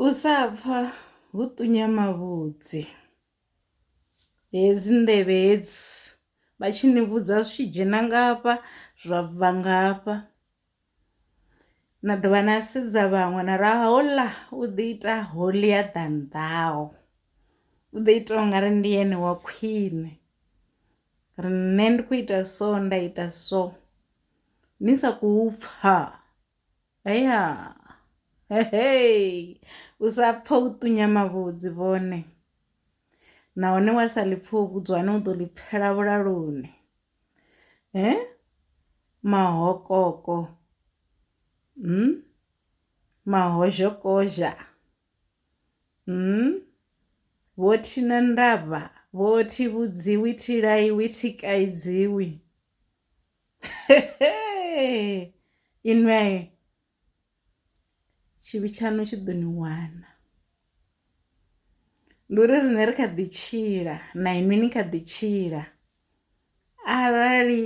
U sa pfa hu ṱunya mavhudzi, hedzi nḓevhe hedzi vha tshi ni vhudza zwi tshi dzhena nga hafha zwa bva nga hafha, na dovha na sedza vhaṅwe na ri houḽa u ḓi ita holier than thou u ḓo ita ungari ndi ene wa khwiṋe ri nṋe ndi kho ita so nda ita so ni sa khou pfha. Heya hehei u sa pfa u ṱunya mavhudzi vhone nahone wa sa ḽipfa u vhudzwa hone u ḓo ḽi pfela vhulaloni mahokoko mahozhokozha vho thi na ndavha vho thi vhudziwi thi laiwi thi kaidziwi inwe tshivhi tshaṋu tshi ḓo ni wana ndi uri riṋe ri kha ḓi tshila na inwi ni kha ḓi tshila arali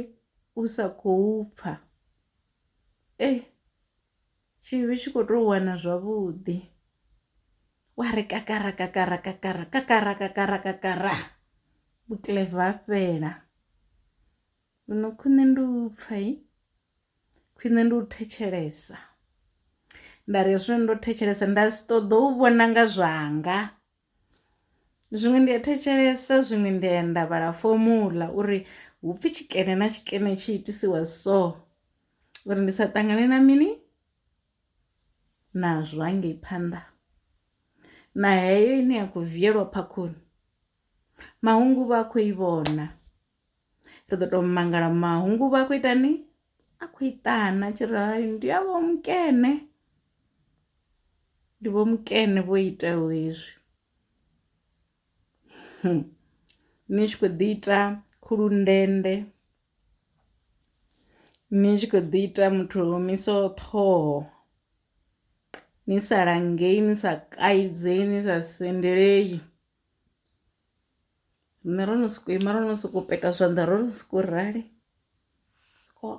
u sa khou pfha ei tshivhi tshi kho to wana zwavhuḓi wa ri kakara kakara kakara kakara kakara kakara vhukiḽeva ha fhela. Zwino khwine ndi u pfha i, khwine ndi u thetshelesa. Nda ri hezwi ndo thetshelesa nda si ṱoḓa u vhona nga zwanga, zwiṅwe ndi a thetshelesa zwiṅwe ndi ya nda vhala fomuḽa uri hu pfhi tshikene na tshikene tshi itisiwa so uri ndi sa ṱangane na mini nazwo hangei phanḓa. Na heyo ine ya kho viela phakhoni mahungu uvha a kho i vhona. ri ḓo tou mangala mahungu vha khou itani a khou iṱana tshi ri hayi ndi a vho mukene ndi vho mukene vho itaho hezwi hmm. ni tshi khou ḓi ita khulundende ni tshi khou ḓi ita muthu omiso ṱhoho ni sa langei ni sa kaidze ni sa sendelei nṋe ro no soko ima ro no soko peta zwanḓa ro no soko rali ko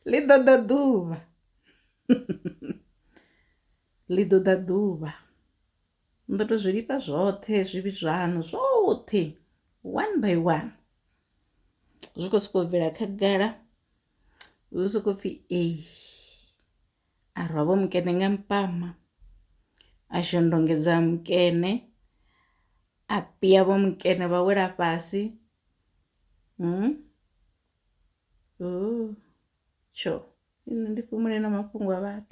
ḽi ḓo ḓa ḓuvha ḽi ḓo ḓa ḓuvha ndo to zwi lifha zwoṱhe zwivhi zwaṋu zwoṱhe one by one zwi khou sokou bvela khagala hu sokou pfhi ee. a rwa vho mukene nga mpama a shondongedza mukene a pia vho mukene vha wela fhasi hmm? tsho nṋe ndi fhumule na mafhungo a vhathu